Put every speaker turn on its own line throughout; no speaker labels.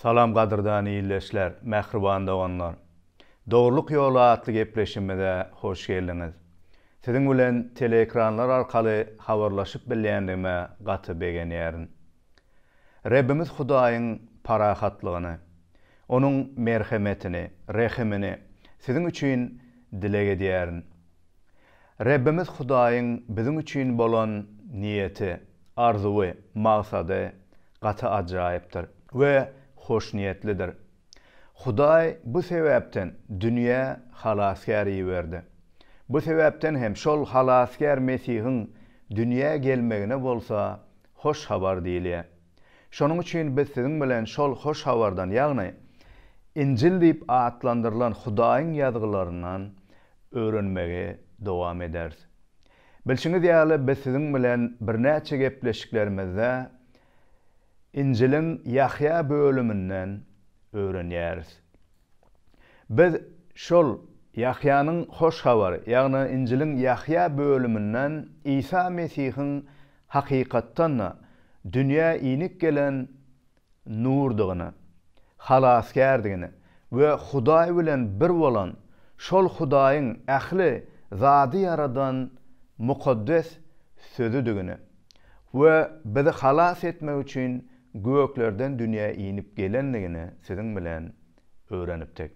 Salam gadyrdan ildeşler, mähriban doganlar! Dogrulyk ýoly atly gepleşigimize hoş geldiňiz. Siziň bilen teleekranlar arkaly habarlaşyp bilýändigime gaty begenýärin. Rebbimiz Hudaýyň parahatlygyny, Onuň merhemetini, rehimini siziň üçin dileg edýärin. Rebbimiz Hudaýyň biziň üçin bolan niýeti, arzuwy, maksady gaty ajaýypdyr we hoşniýetlidir. Hudaý bu sebäpden dünýä Halasgär iberdi. Bu sebäpden hem şol Halasgär Mesihiň dünýä gelmegine bolsa Hoş Habar diýilýär. Şonuň üçin biz siziň bilen şol Hoş Habardan, ýagny Injil diýip atlandyrylan Hudaýyň Ýazgylaryndan öwrenmegi dowam ederis. Bilşiňiz ýaly, biz siziň bilen birnäçe gepleşiklerimizde Injiliň Ýahýa bölüminden öwrenýäris. Biz şol Ýahýanyň Hoş Habary, ýagny Injiliň Ýahýa bölüminden Isa Mesihiň hakykatdan-da dünýä inip gelen Nurdygyny, Halasgärdigini we Hudaý bilen bir bolan şol Hudaýyň ähli zady ýaradan mukaddes Sözüdigini we bizi halas etmek üçin göklerden dünýä inip gelendigini siziň bilen öwrenipdik.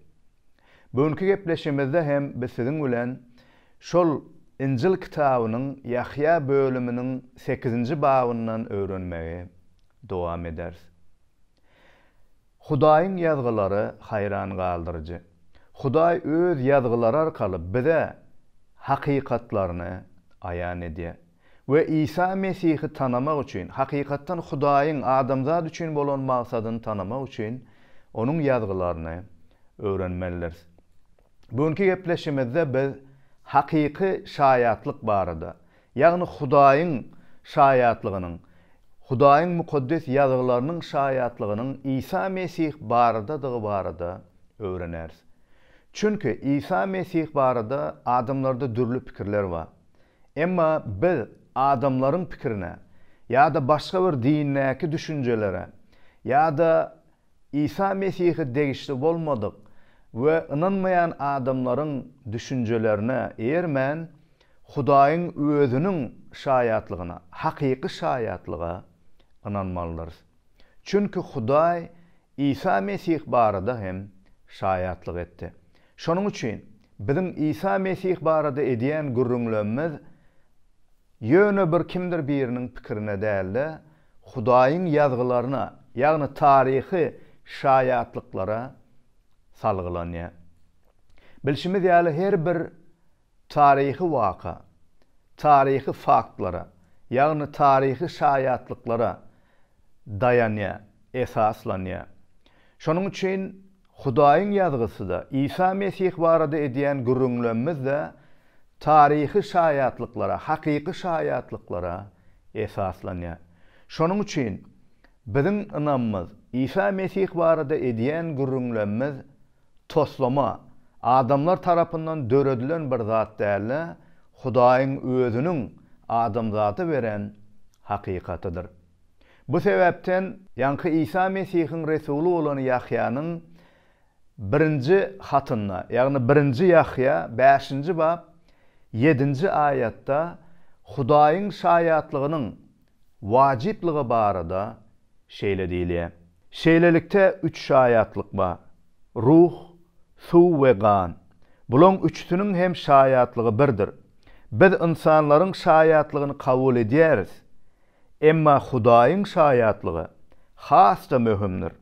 Bu günki gepleşigimizde hem biz siziň bilen şol Injil kitabynyň Ýahýa bölüminiň sekizinji babyndan öwrenmegi Dowam ederis. Hudaýyň ýazgylary haýran galdyryjy. Hudaý öz ýazgylary arkaly bize hakykatlaryny aýan edýär. We Isa Mesihi tanamak üçin, hakykatdan Hudaýyň adamzat üçin bolan maksadyny tanamak üçin Onuň ýazgylaryny öwrenmelidiris. Bu günki gepleşigimizde biz hakyky şaýatlyk barada, Ýagny Hudaýyň şaýatlygynyň, Hudaýyň Mukaddes Ýazgylarynyň şaýatlygynyň Isa Mesih baradadygy barada öwreneris. Çünki Isa Mesih barada adamlarda dürli pikirler bar. Emma biz adamlaryň pikirine ýa-da başga bir dindäki düşünjelere ýa-da Isa Mesihe degişli bolmadyk we ynanmaýan adamlaryň düşünjelerine eýermän, Hudaýyň Özüniň şaýatlygyna, hakyky şaýatlyga ynanmalydyrys. Çünki Hudaý Isa Mesih barada hem şaýatlyk etdi. Şonuň üçin, biziň Isa Mesih barada edýän gürrüňlemimiz ýöne bir kimdir biriniň pikirine däl-de, Hudaýyň ýazgylaryna, ýagny taryhy şaýatlyklara salgylanýar. Bilşimiz ýaly, her bir taryhy waka, taryhy faktlara, ýagny taryhy şaýatlyklara daýanýar, esaslanýar. Şonuň üçin Hudaýyň Ýazgysy-da, Isa Mesih barada edýän gürrüňlemimiz-de taryhy şaýatlyklara, hakyky şaýatlyklara esaslanýar. Şonuň üçin biziň ynamymyz, Isa Mesih barada edýän gürrüňlemimiz toslama, adamlar tarapyndan döredilen bir zat däl-de, Hudaýyň Özüniň adamzada beren hakykatydyr. Bu sebäpden, ýaňky Isa Mesihiň resuly bolan Ýahýanyň birinji hatynda, ýagny birinji Ýahýa bäşinji bap ýedinji aýatda Hudaýyň şaýatlygynyň wajyplygy barada şeýle diýilýär, Şeýlelikde, üç şaýatlyk bar, Ruh, suw we gan. Bulaň üçüsiniň hem şaýatlygy birdir. Biz ynsanlaryň şaýatlygyny kabul edýäris. Emma Hudaýyň şaýatlygy has-da möhümdir.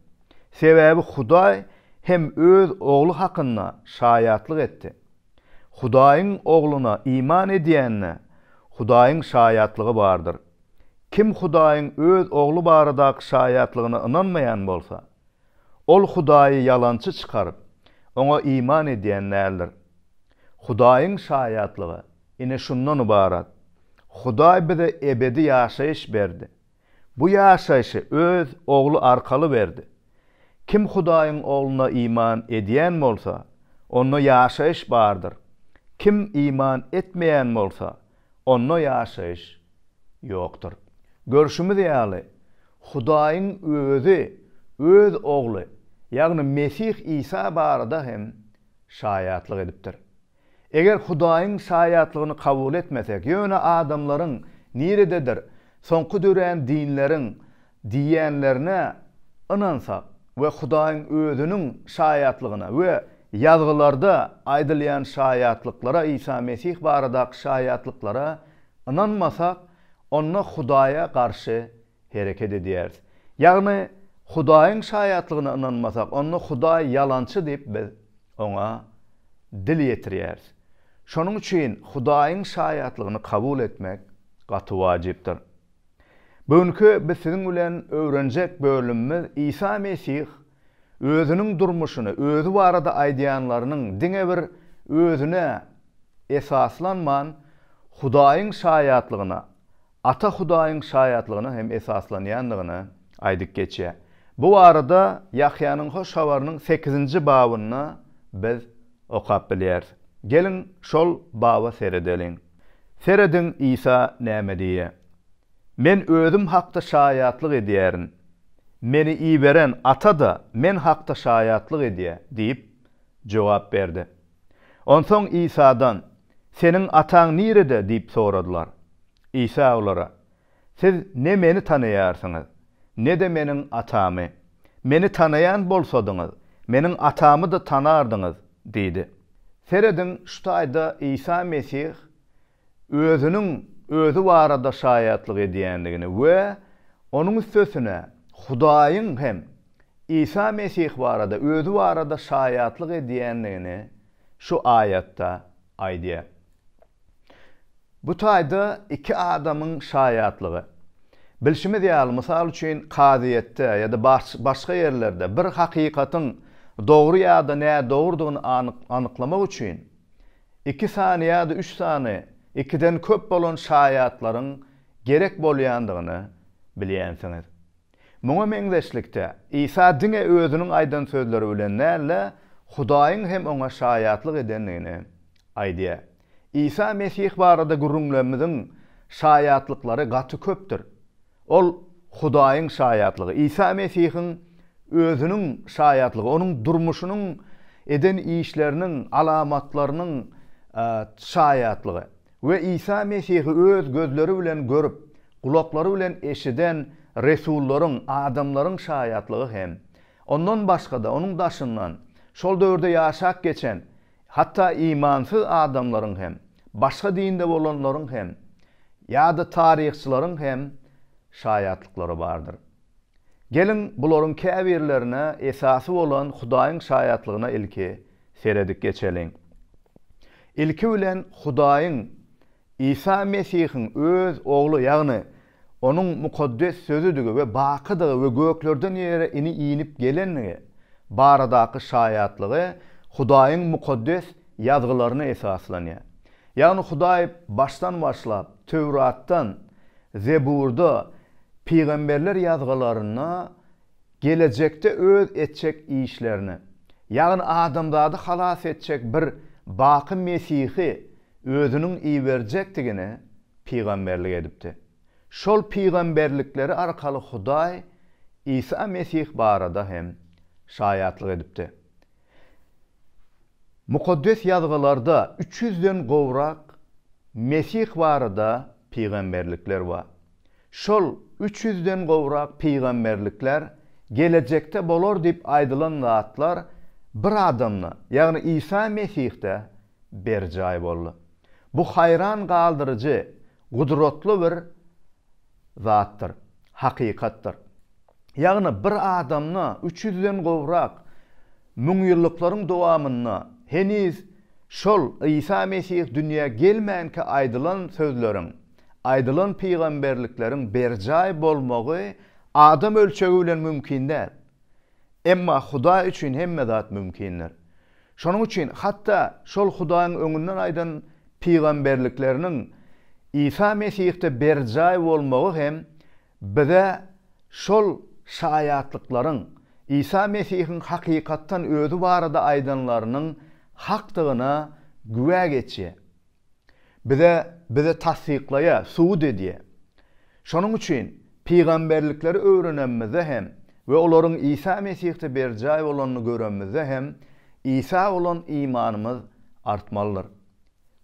Sebäbi Hudaý hem Öz Ogly hakynda şaýatlyk etdi. Hudaýyň Ogluna iman edýände, Hudaýyň şaýatlygy bardyr. Kim Hudaýyň Öz Ogly baradaky şaýatlygyna ynanmaýan bolsa, Ol Hudaýy ýalançy çykaryp, Oňa iman edýän däldir. Hudaýyň şaýatlygy, ine, şundan ybarat, Hudaý bize ebedi ýaşaýyş berdi. Bu ýaşaýşy Öz Ogly arkaly berdi. Kim Hudaýyň Ogluna iman edýän bolsa, onda ýaşaýyş bardyr. Kim iman etmeýän bolsa, Onda ýaşaýyş ýokdur. Görşümiz ýaly, Hudaýyň Özi Öz Ogly, ýagny Mesih Isa barada hem şaýatlyk edipdir. Eger Hudaýyň şaýatlygyny kabul etmesek, ýöne adamlaryň, nirededir, soňky dörän dinleriň, diýýänlerine ynansak we Hudaýyň Özüniň şaýatlygyna we Ýazgylarda aýdylýan şaýatlyklara, Isa Mesih baradaky şaýatlyklara ynanmasak, onda Hudaýa garşy hereket edýäris. Ýagny, Hudaýyň şaýatlygyna ynanmasak, onda Hudaý ýalançy diýip biz Oňa dil ýetirýäris. Şonuň üçin Hudaýyň şaýatlygyny kabul etmek gaty wajypdyr. Bu günki biz siziň bilen öwrenjek bölümimiz Isa Mesih özüniň durmuşyny, özi barada aýdýanlarynyň diňe bir özüne esaslanman, Hudaýyň şaýatlygyna, Ata Hudaýyň şaýatlygyna hem esaslanýandygyny aýdyp geçýär. Bu barada Ýahýanyň Hoş Habarynyň sekizinji babynda biz okap bilýäris. Geliň, şol baba seredeliň. Serediň, Isa näme diýýär, Men Özüm hakda şaýatlyk edýärin, Meni iberen Ata-da Men hakda şaýatlyk edýär diýip, jogap berdi. Onsoň Isadan, Seniň Ataň nirede? diýip soradylar. Isa olara, Siz ne meni tanaýarsyňyz, ne-de meniň Atamy. Meni tanaýan bolsadyňyz, meniň Atamy-da tanardyňyz diýdi. Serediň, şu taýda Isa Mesih Özüniň Özi barada şaýatlyk edýändigini we onuň üstesine Hudaýyň hem Isa Mesih barada Özi barada şaýatlyk edýändigini şu aýatda aýdýar. Bu taýda iki adamyň şaýatlygy. Bilşimiz ýaly, mysal üçin, kazyýetde ýa-da başga ýerlerde bir hakykatyň dogry ýa-da nädogrudygyny anyklamak üçin iki sany ýa-da üç sany ikiden köp bolan şaýatlaryň gerek bolýandygyny bilýänsiňiz. Muňa meňzeşlikde, Isa diňe özüniň aýdan sözleri bilen däl-de, Hudaýyň hem oňa şaýatlyk edendigini aýdýar. Isa Mesih barada gürrüňlerimiziň şaýatlyklary gaty köpdür. Ol Hudaýyň şaýatlygy. Isa Mesihiň özüniň şaýatlygy, onuň durmuşynyň, eden işleriniň, alamatlarynyň şaýatlygy. we Isa Mesihi öz gözleri bilen görüp, gulaklary bilen eşiden resullaryň, adamlaryň şaýatlygy hem, ondan başga-da, onuň daşyndan, şol döwürde ýaşap geçen, hatda imansyz adamlaryň hem, başga dinde bolanlaryň hem, ýa-da taryhçylaryň hem şaýatlyklary bardyr. Geliň, bularyň käbirlerine esasy bolan Hudaýyň şaýatlygyna ilki seredip geçeliň. Ilki bilen Hudaýyň Isa Mesihiň Öz Ogly, ýagny Onuň mukaddes Sözüdigi we bakydygy we göklerden ýere ini inip gelendigi baradaky şaýatlygy Hudaýyň mukaddes Ýazgylaryna esaslanýar. Ýagny Hudaý başdan başlap Töwratdan Zeburda, pygamberler ýazgylarynda gelejekde öz etjek işlerini, ýagny adamzady halas etjek bir baky Mesihi özüniň iberjekdigini pygamberlik edipdi. Şol pygamberlikleri arkaly Hudaý Isa Mesih barada hem şaýatlyk edipdi. Mukaddes Ýazgylarda üç ýüzden gowrak Mesih barada pygamberlikler bar. Şol üç ýüzden gowrak pygamberlikler gelejekde bolar diýip aýdylan zatlar bir adamda, ýagny Isa Mesihde berjaý boldy. Bu haýran galdyryjy gudratly bir zatdyr, hakykatdyr. Ýagny bir adamda üç ýüzden gowrak müňýyllyklaryň dowamynda heniz şol Isa Mesih dünýä gelmänkä aýdylan sözleriň, aýdylan pygamberlikleriň berjaý bolmagy adam ölçegi bilen mümkin däl. Emma Hudaý üçin hemme zat mümkindir. Şonuň üçin hatda şol Hudaýyň öňünden aýdan pygamberlikleriniň Isa Mesihde berjaý bolmagy hem bize şol şaýatlyklaryň Isa Mesihiň hakykatdan özi barada aýdanlarynyň hakdygyna güwä geçýär. Bize, bizi tassyklaýa, subut edýä. Şonuň üçin, pygamberlikleri öwrenemizde hem we olaryň Isa Mesihde berjaý bolanyny göremizde hem Isa bolan imanymyz artmalydyr.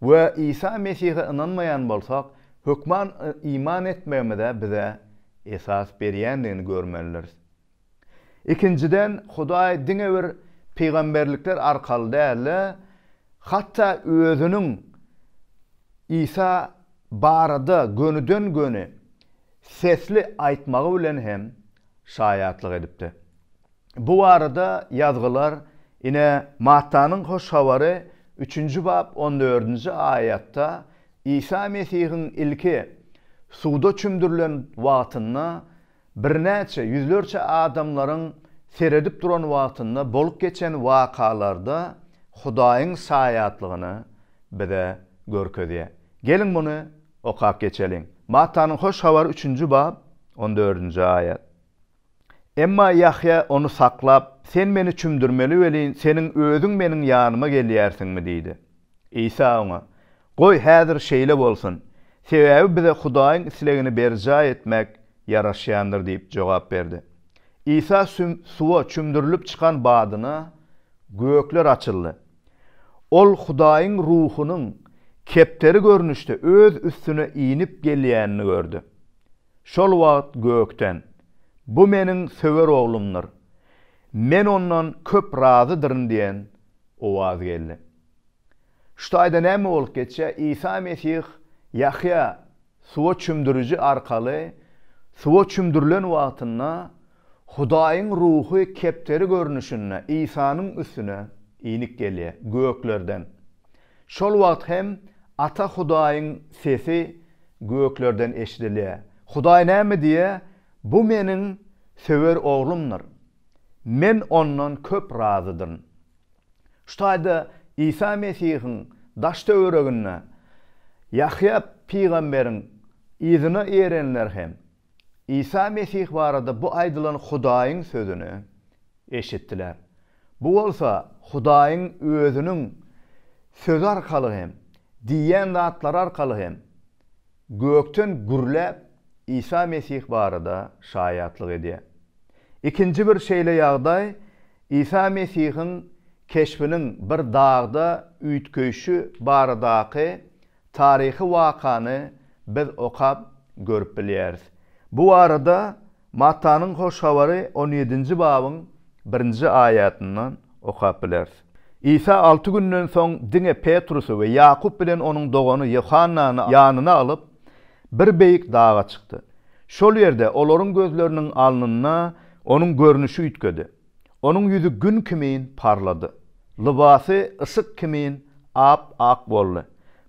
We Isa Mesihe ynanmaýan bolsak, hökman iman etmegimize bize esas berýändigini görmelidiris. Ikinjiden, Hudaý diňe bir pygamberlikler arkaly däl-de, hatda Özüniň Isa barada gönüden-göni sesli aýtmagy bilen hem şaýatlyk edipdi. Bu barada ýazgylar ine, Mattanyň Hoş Habary üçünji bap on dördünji aýatda Isa Mesihiň ilki suwda çümdürilen wagtynda Birnäçe ýüzlerçe adamlaryň seredip duran wagtynda bolup geçen wakalarda Hudaýyň saýatlygyny bize görkezýär. Geliň muny okap geçeliň. Mattanyň Hoş Habary üçünji bab, on dördünji aýat. Emma Ýahýa ony saklap, Sen meni çümdürmeli welin, seniň özüň meniň ýanyma gelýärsiňmi? diýdi. Isa oňa, Goý, häzir şeýle bolsun, sebäbi bize Hudaýyň islegini berjaý etmek ýaraşýandyr diýip jogap berdi. Isa suwa çümdürilip çykan badyna, gökler açyldy. Ol Hudaýyň Ruhunyň kepderi görnüşde öz üstüne inip gelýänini gördi. Şol wagt gökden, Bu meniň söwer Oglumdyr. Men ondan köp razydyryn diýen Owaz geldi. Şu taýda näme bolup geçýär? Isa Mesih Ýahýa suwa çümdüriji arkaly suwa çümdürilen wagtynda Hudaýyň Ruhy kepderi görnüşinde Isanyň üstüne inip gelýär, göklerden. Şol wagt hem Ata Hudaýyň sesi göklerden eşidilýär. Hudaý näme diýýär? Bu Meniň söwer Oglumdyr. Men ondan köp razydyryn. Şu taýda Isa Mesihiň daş-töwereginde Ýahýa pygamberiň yzyna erenler hem Isa Mesih barada bu aýdylan Hudaýyň sözüni eşitdiler. Bu bolsa Hudaýyň Özüniň sözi arkaly hem, diýýän zatlary arkaly hem, Gökden gürläp, Isa Mesih barada şaýatlyk edýär. Ikinji bir şeýle ýagdaý Isa Mesihiň keşbiniň bir dagda üýtgeýşi baradaky taryhy wakany biz okap görüp bilýäris. Bu barada Mattanyň Hoş Habary on ýedinji babyň birinji aýatyndan okap bileris. Isa alty günden soň diňe Petrusy we Ýakup bilen onuň dogany Ýohannany ýanyna alyp, bir beýik daga çykdy. Şol ýerde olaryň gözleriniň alnynda onuň görnüşi üýtgedi. Onuň ýüzi gün kimin parlady. Lybasy yşyk kimin ap-ak boldy.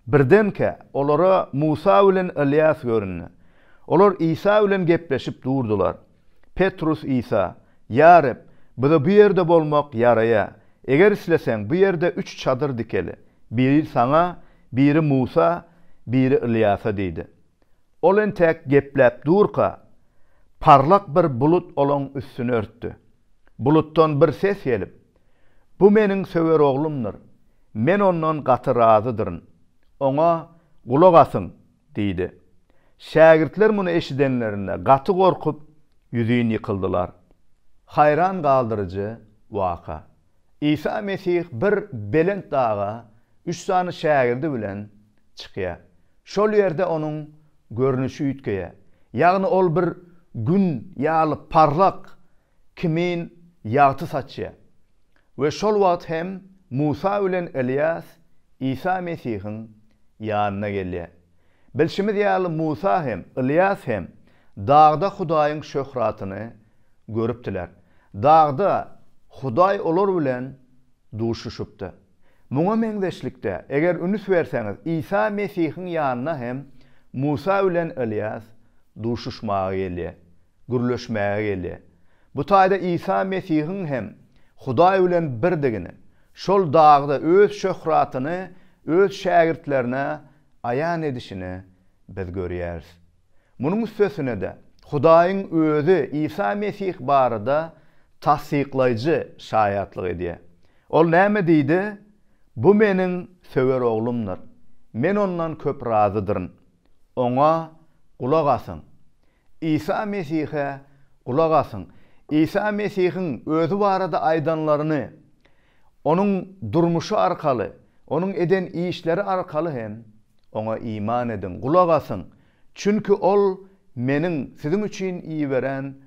Birdenkä, olara Musa bilen Ylýas göründi. Olar Isa bilen gepleşip durdular. Petrus Isa, Ýa Reb, bize bu ýerde bolmak ýaraýa. Eger isleseň, bu ýerde üç çadyr dikeli. Biri saňa, biri Musa, biri Ylýasa diýdi. Ol entäk gepläp durka, parlak bir bulut olaň üstüni örtdi. Bulutdan bir ses gelip, Bu Meniň söwer Oglumdyr. Men Ondan gaty razydyryn. Oňa gulak asyň! Diýdi. Şägirtler muny eşidenlerinde, gaty gorkup, ýüzin ýykyldylar. Haýran galdyryjy waka. Isa Mesih bir belent daga üç sany şägirdi bilen çykýar. Şol ýerde onuň görnüşi üýtgeýär. Ýagny ol bir Gün ýaly parlak kimin ýagty saçýar. We şol wagt hem Musa bilen Ylýas Isa Mesihiň ýanyna gelýär. Bilşimiz ýaly Musa hem, Ylýas hem dagda Hudaýyň şöhratyny görüpdiler. Dagda Hudaý olar bilen duşuşypdy. Muňa meňzeşlikde, eger ünüs berseňiz, Isa Mesihiň ýanyna hem Musa bilen Ylýas duşuşmaga gelýär. gürleşmäge gelýär. Bu taýda Isa Mesihiň hem Hudaý bilen birdigini, şol dagda öz şöhratyny öz şägirtlerine aýan edişini biz görýäris. Munuň üstesine-de, Hudaýyň Özi Isa Mesih barada tassyklaýjy şaýatlyk edýär. Ol näme diýdi? Bu Meniň söwer Oglumdyr. Men Ondan köp razydyryn. Oňa gulak asyň. Isa Mesihe gulak asyň. Isa Mesihiň Özi barada aýdanlaryny Onuň durmuşy arkaly, Onuň eden işleri arkaly hem Oňa iman ediň, gulak asyň, çünki Ol Meniň siziň üçin iberen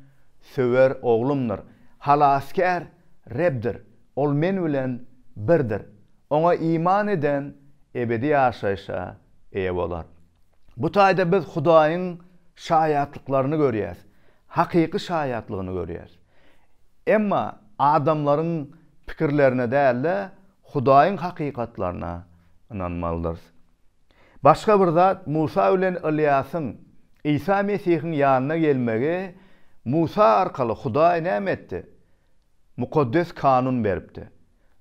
söwer Oglumdyr. Halasgär Rebdir. Ol Men bilen birdir. Oňa iman eden ebedi ýaşaýşa eýe bolar. Bu taýda biz Hudaýyň şaýatlyklaryny görýäris, hakyky şaýatlygyny görýäris. Emma adamlaryň pikirlerine däl-de, Hudaýyň hakykatlaryna ynanmalydyrys. Başga bir zat, Musa bilen Ylýasyň Isa Mesihiň ýanyna gelmegi, Musa arkaly Hudaý näme etdi? Mukaddes kanun beripdi.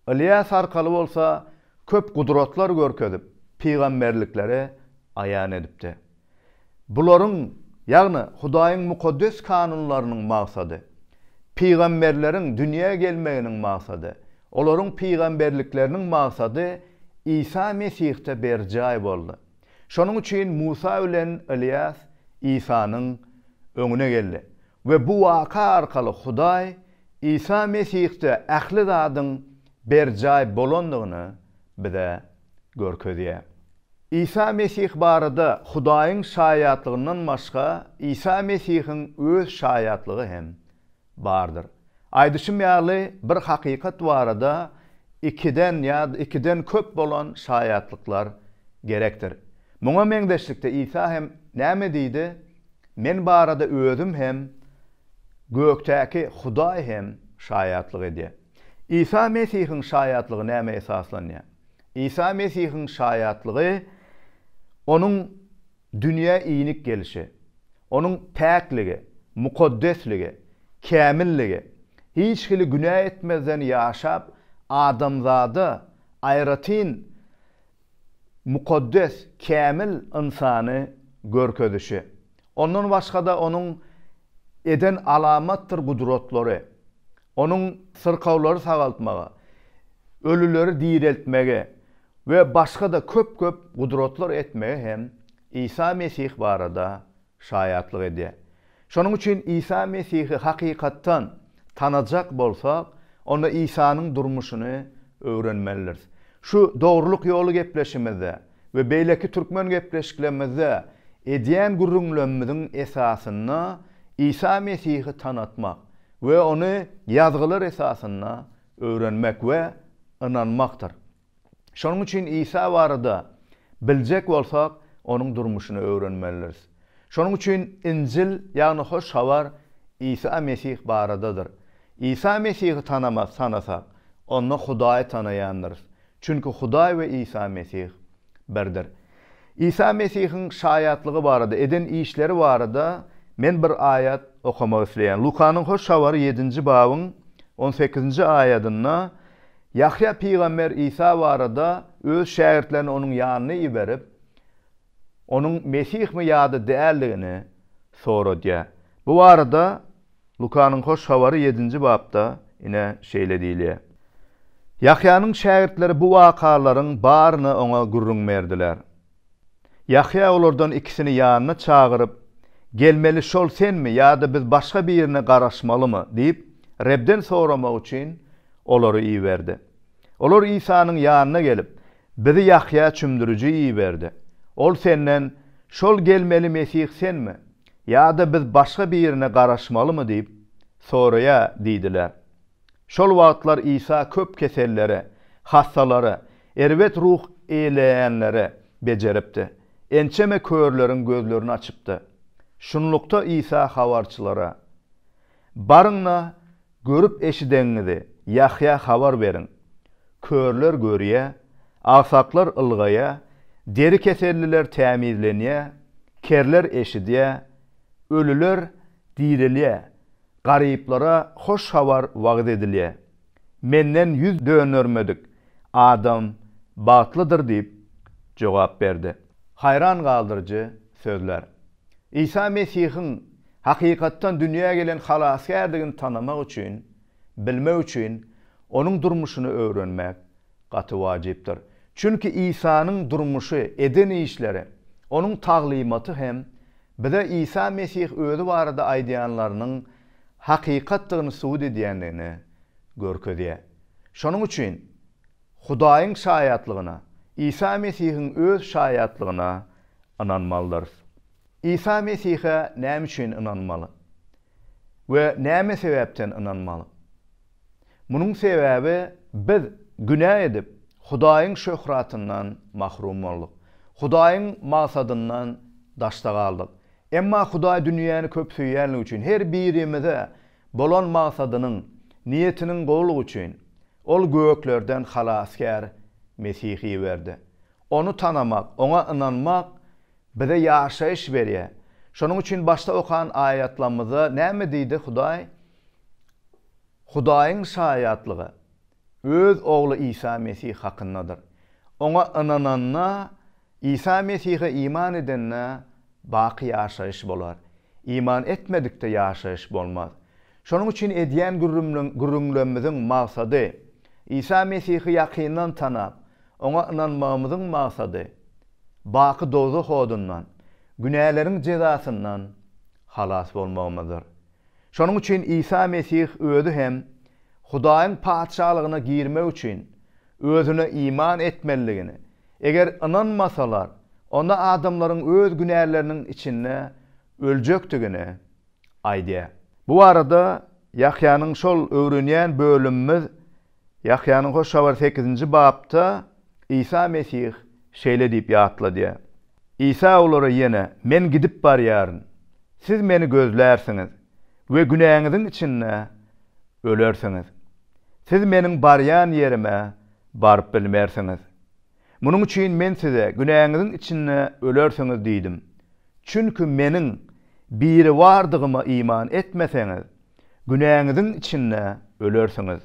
Ylýas arkaly bolsa köp gudratlar görkezip, pygamberlikleri aýan edipdi. Bularyň, ýagny Hudaýyň mukaddes kanunlarynyň maksady, pygamberleriň dünýä gelmeginiň maksady, olaryň pygamberlikleriniň maksady Isa Mesihde berjaý boldy. Şonuň üçin Musa bilen Ylýas Isanyň öňüne geldi we bu waka arkaly Hudaý Isa Mesihde ähli zadyň berjaý bolandygyny bize görkezýär. Isa Mesih barada Hudaýyň şaýatlygyndan başga Isa Mesihiň öz şaýatlygy hem bardyr. Aýdyşym ýaly, bir hakykat barada ikiden ýa-da ikiden köp bolan şaýatlyklar gerekdir. Muňa meňzeşlikde Isa hem näme diýdi, Men barada özüm hem Gökdäki Hudaý hem şaýatlyk edýär. Isa Mesihiň şaýatlygy nämä esaslanýar? Isa Mesihiň şaýatlygy Onuň dünýä inik gelişi, Onuň päkligi, mukaddesligi, kämilligi, hiç hili günä etmezden ýaşap, adamzada aýratyn mukaddes, kämil ynsany görkezişi, Ondan başga-da Onuň eden alamatdyr gudratlary, Onuň syrkawlary sagaltmagy, ölüleri direltmegi we başga-da köp-köp gudratlar etmegi hem Isa Mesih barada şaýatlyk edýär. Şonuň üçin Isa Mesihi hakykatdan tanajak bolsak, onda Isanyň durmuşyny öwrenmelidiris. Şu Dogrulyk ýoly gepleşimizde we beýleki türkmen gepleşiklerimizde edýän gürrüňlemimiziň esasynda Isa Mesihi tanatmak we ony Ýazgylar esasynda öwrenmek we ynanmakdyr. Şonuň üçin Isa barada biljek bolsak, onuň durmuşyny öwrenmelidiris. Şonuň üçin Injil, ýagny Hoş Habar Isa Mesih baradadyr. Isa Mesihi tanamak tanasak, onda Hudaýy tanaýandyrys. Çünki Hudaý we Isa Mesih birdir. Isa Mesihiň şaýatlygy barada, eden işleri barada men bir aýat okamak isleýän. Lukanyň Hoş Habary ýedinji babyň on sekizinji aýadynda Ýahýa pygamber Isa barada öz şägirtlerini onuň ýanyna iberip, Onuň Mesihmi ýa-da däldigini soradýar. Bu barada Lukanyň Hoş Habary ýedinji bapda ine şeýle diýilýär. Ýahýanyň şägirtleri bu wakalaryň baryny oňa gürrüň berdiler. Ýahýa olardan ikisini ýanyna çagyryp, Gelmeli şol senmi ýa-da biz başga birine garaşmalymy? diýip, Rebden soramak üçin olary iberdi. Olar Isanyň ýanyna gelip, Bizi Ýahýa çümdüriji iberdi. Ol senden, Şol gelmeli Mesih senmi? Ýa-da biz başga birine garaşmalymy diýip, soraýa diýdiler. Şol wagtlar Isa köp kesellere, hassalara, erbet ruh eýleýänlere bejeripdi. Ençeme körleriň gözlerini açypdy. Şunlukda Isa habarçylara. Baryň-da, görüp-eşideňiňizi Ýahýa habar beriň. Körler görýär, agsaklar ylgaýar, deri keselliler tämizlenýär, kerler eşidýär, ölüler direlýär, garyplara hoş habar wagyz edilýär. Menden ýüz döndermedik adam bagtlydyr diýip jogap berdi. Haýran galdyryjy sözler. Isa Mesihiň hakykatdan dünýä gelen Halasgärdigini tanamak üçin, bilmek üçin Onuň durmuşyny öwrenmek gaty wajypdyr. Çünki Isanyň durmuşy, eden işleri, Onuň taglymaty hem bize Isa Mesih özi barada aýdýanlarynyň hakykatdygyny subut edýändigini görkezýär. Şonuň üçin Hudaýyň şaýatlygyna, Isa Mesihiň öz şaýatlygyna ynanmalydyrys. Isa Mesihe näme üçin ynanmaly we näme sebäpden ynanmaly? Munuň sebäbi biz günä edip, Hudaýyň şöhratyndan mahrum boldyk. Hudaýyň magsadyndan daşda galdyk. Emma Hudaý dünýäni köp söýýänligi üçin, her birimize bolan magsadynyň, niýetiniň gowulygy üçin, Ol göklerden Halasgär Mesihi iberdi. Ony tanamak, Oňa ynanmak bize ýaşaýyş berýär. Şonuň üçin başda okan aýatlamyzda näme diýdi Hudaý? Hudaýyň şaýatlygy, Öz Ogly Isa Mesih hakyndadyr. Oňa ynananda, Isa Mesihe iman edende baky ýaşaýyş bolar. Iman etmedikde ýaşaýyş bolmaz. Şonuň üçin edýän gürrüňlerimiziň maksady, Isa Mesihi ýakyndan tanap, Oňa ynanmagymyzyň maksady, baky dowzah odundan, günäleriň jezasyndan halas bolmagymyzdyr. Şonuň üçin Isa Mesih özi hem Hudaýyň Patyşalygyna girmek üçin özüne iman etmelidigini, eger ynanmasalar, onda adamlaryň öz günäleriniň içinde öljekdigini aýdýar. Bu barada Ýahýanyň şol öwrenýän bölümimiz Ýahýanyň Hoş Habary sekizinji bapda Isa Mesih şeýle diýip ýatladýar. Isa olara ýene, Men gidip barýaryn. Siz Meni gözlärsiňiz we günäňiziň içinde ölersiňiz. Siz Meniň barýan ýerime baryp bilmersiňiz. Munuň üçin Men size, Günäňiziň içinde ölersiňiz diýdim. Çünki Meniň Biribardygyma iman etmeseňiz, günäňiziň içinde ölersiňiz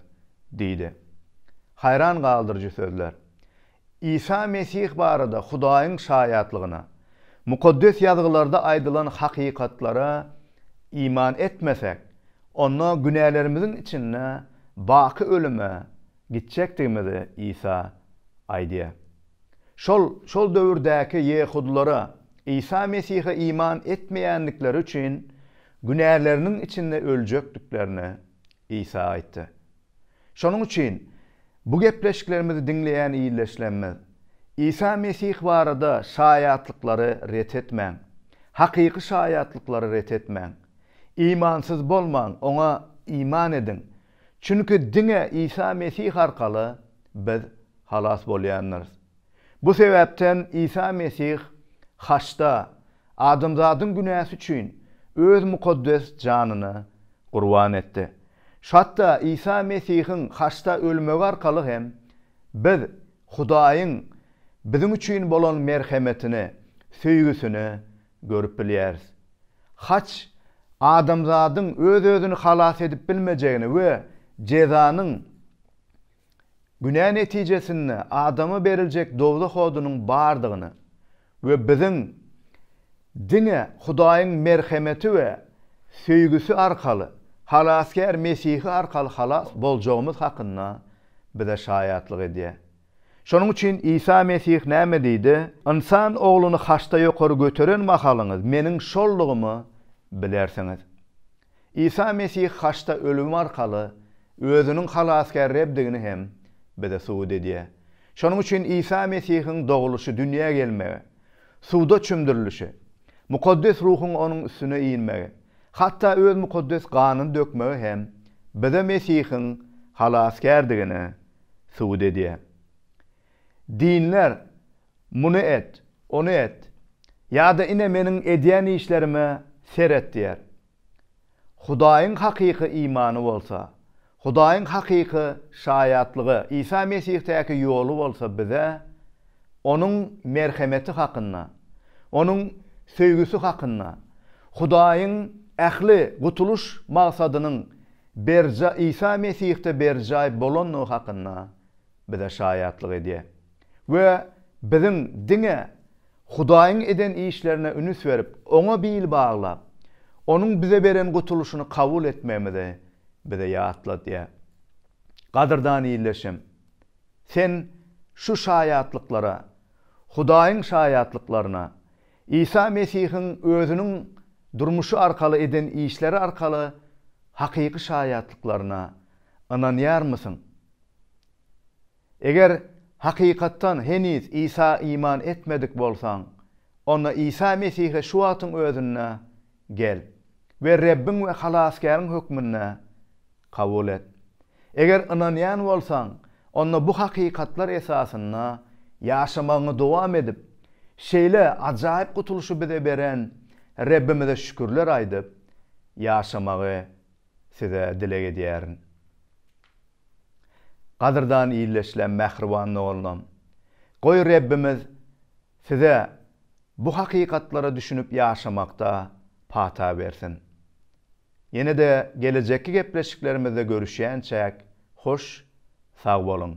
diýdi. Haýran galdyryjy sözler. Isa Mesih barada Hudaýyň şaýatlygyna, Mukaddes Ýazgylarda aýdylan hakykatlara iman etmesek, onda günälerimiziň içinde baky ölüme gitjekdigimizi Isa aýdýar. Şol, şol döwürdäki ýehudylara Isa Mesihe iman etmeýändikleri üçin günäleriniň içinde öljekdiklerini Isa aýtdy. Şonuň üçin, bu gepleşiklerimizi diňleýän ildeşlerimiz, Isa Mesih barada şaýatlyklary ret etmäň. Hakyky şaýatlyklary ret etmäň. Imansyz bolmaň, Oňa iman ediň, Çünki diňe Isa Mesih arkaly biz halas bolýandyrys. Bu sebäpden Isa Mesih haçda adamzadyň günäsi üçin öz mukaddes janyny gurban etdi. Hatda Isa Mesihiň haçda ölmegi arkaly hem biz Hudaýyň biziň üçin bolan merhemetini, söýgüsini görüp bilýäris. Haç, adamzadyň öz-özüni halas edip bilmejegini we jezanyň, günä netijesinde adama beriljek dowzah odunyň bardygyny we biziň diňe Hudaýyň merhemeti we söýgüsi arkaly, Halasgär Mesihi arkaly halas boljagymyz hakynda bize şaýatlyk edýär. Şonuň üçin Isa Mesih näme diýdi? Ynsan Ogluny haçda ýokary göteren mahalyňyz Meniň şoldugymy bilersiňiz. Isa Mesih haçda ölümi arkaly Özüniň Halasgär Rebdigini hem bize subut edýär. Şonuň üçin Isa Mesihiň dogulyşy, dünýä gelmegi, suwda çümdürilişi, Mukaddes Ruhuň Onuň üstüne inmegi, hatda Öz mukaddes ganyny dökmegi hem bize Mesihiň Halasgärdigini subut edýär. Dinler muny et, ony et, ýa-da ine meniň edýän işlerime seret diýýär. Hudaýyň hakyky imany bolsa, Hudaýyň hakyky şaýatlygy, Isa Mesihdaky ýoly bolsa bize Onuň merhemeti hakynda, Onuň söýgüsi hakynda, Hudaýyň ähli gutulyş magsadynyň berjaý Isa Mesihde berjaý bolandygy hakynda bize şaýatlyk edýär we biziň diňe Hudaýyň eden işlerine ünüs berip, Oňa bil baglap, Onuň bize beren gutulyşyny kabul etmegimizi bize ýatladýar. Gadyrdan ildeşim, sen şu şaýatlyklara, Hudaýyň şaýatlyklaryna Isa Mesihiň özüniň durmuşy arkaly eden işleri arkaly hakyky şaýatlyklaryna ynanýarmysyň? Eger hakykatdan heniz Isa iman etmedik bolsaň, onda Isa Mesihe şu wagtyň özünde Gel we Rebbiň we Halasgäriň hökmünde kabul et. Eger ynanýan bolsaň, onda bu hakykatlar esasynda ýaşamagyňy dowam edip, şeýle ajaýyp gutulyşy bize beren Rebbimize şükürler aýdyp ýaşamagy size dileg edýärin. Gadyrdan illeşlem mähriban doganlam. Goý Rebbimiz size bu hakykatlara düşünip ýaşamakda pata bersin. Ýenede gelejekki gepleşiklerimizde görüşýänçäk hoş sag boluň.